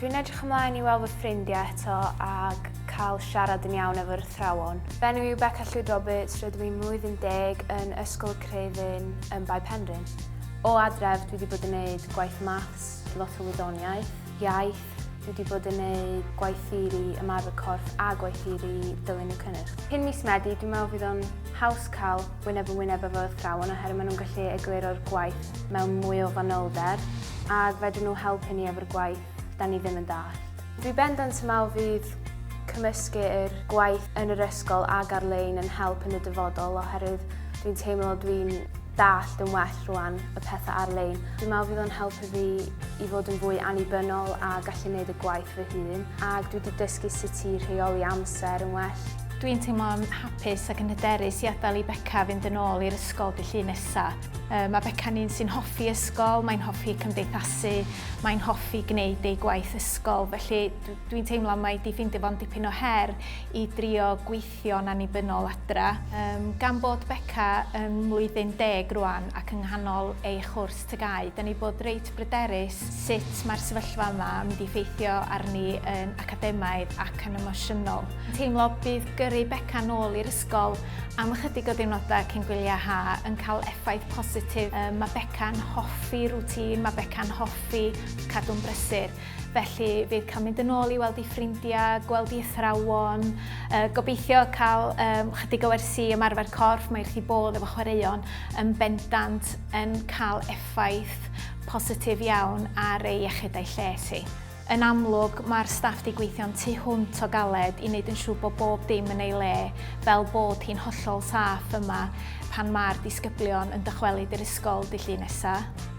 Dwi'n edrych ymlaen i weld fy ffrindiau eto ac cael siarad yn iawn efo'r athrawon. Fy enw yw Beca Llwyd Roberts, rydw i'n mlwyddyn deg yn Ysgol y Creuddyn yn Bae Penrhyn. O adref dwi wedi bod yn neud gwaith maths, lot o wyddoniaeth, iaith, dwi wedi bod yn neud gwaith theori, ymarfer corff a gwaith theori dylunio cynnyrch. Cyn mis Medi dwi'n meddwl fydd o'n haws cael wyneb yn wyneb efo'r athrawon oherwydd maen nhw'n gallu egluro'r gwaith mewn mwy o fanylder ac fedrwn nhw helpu ni efo'r gwaith da ni ddim yn dallt. Dwi bendant yn meddwl fydd cymysgu yr gwaith yn yr ysgol ag ar-lein yn help yn y dyfodol oherwydd dwi'n teimlo dwi'n dallt yn well rwan y pethau ar-lein. Dwi'n meddwl fydd o'n helpu fi i fod yn fwy annibynnol a gallu gwneud y gwaith fy hun ac dwi wedi dysgu sut i rheoli amser yn well. Dwi'n teimlo'n hapus ac yn hyderus i adael i Beca fynd yn ôl i'r ysgol dy llun nesa. Mae Beca'n un sy'n hoffi ysgol, mae'n hoffi cymdeithasu, mae'n hoffi gwneud ei gwaith ysgol, felly dwi'n teimlo mai di ffeindio fo'n dipyn o her i drio gweithio'n annibynnol adra. Gan bod Beca yn mlwyddyn deg rwan ac yng nghanol ei chwrs TGAU. Da ni bod reit bryderus sut mae'r sefyllfa yma yn mynd i ffeithio arni yn academaidd ac yn emosiynol. Teimlo bydd gyrru Beca nôl i'r ysgol am ychydig o ddiwrnodau cyn gwyliau ha yn cael effaith positif. Mae Beca'n hoffi rŵtîn, mae Beca'n hoffi cadw'n brysur. Felly bydd cael mynd yn ôl i weld ei ffrindiau, gweld ei athrawon, uh, gobeithio cael um, chydig o wersi ymarfer corff, mae rhi bodd efo chwaraeon yn bendant yn cael effaith positif iawn ar ei iechyd a'i lles hi. Yn amlwg, mae'r staff di gweithio'n tu hwnt o galed i wneud yn siŵr bod bob dim yn ei le, fel bod hi'n hollol saff yma pan mae'r disgyblion yn dychwelyd i'r ysgol dy llun nesaf.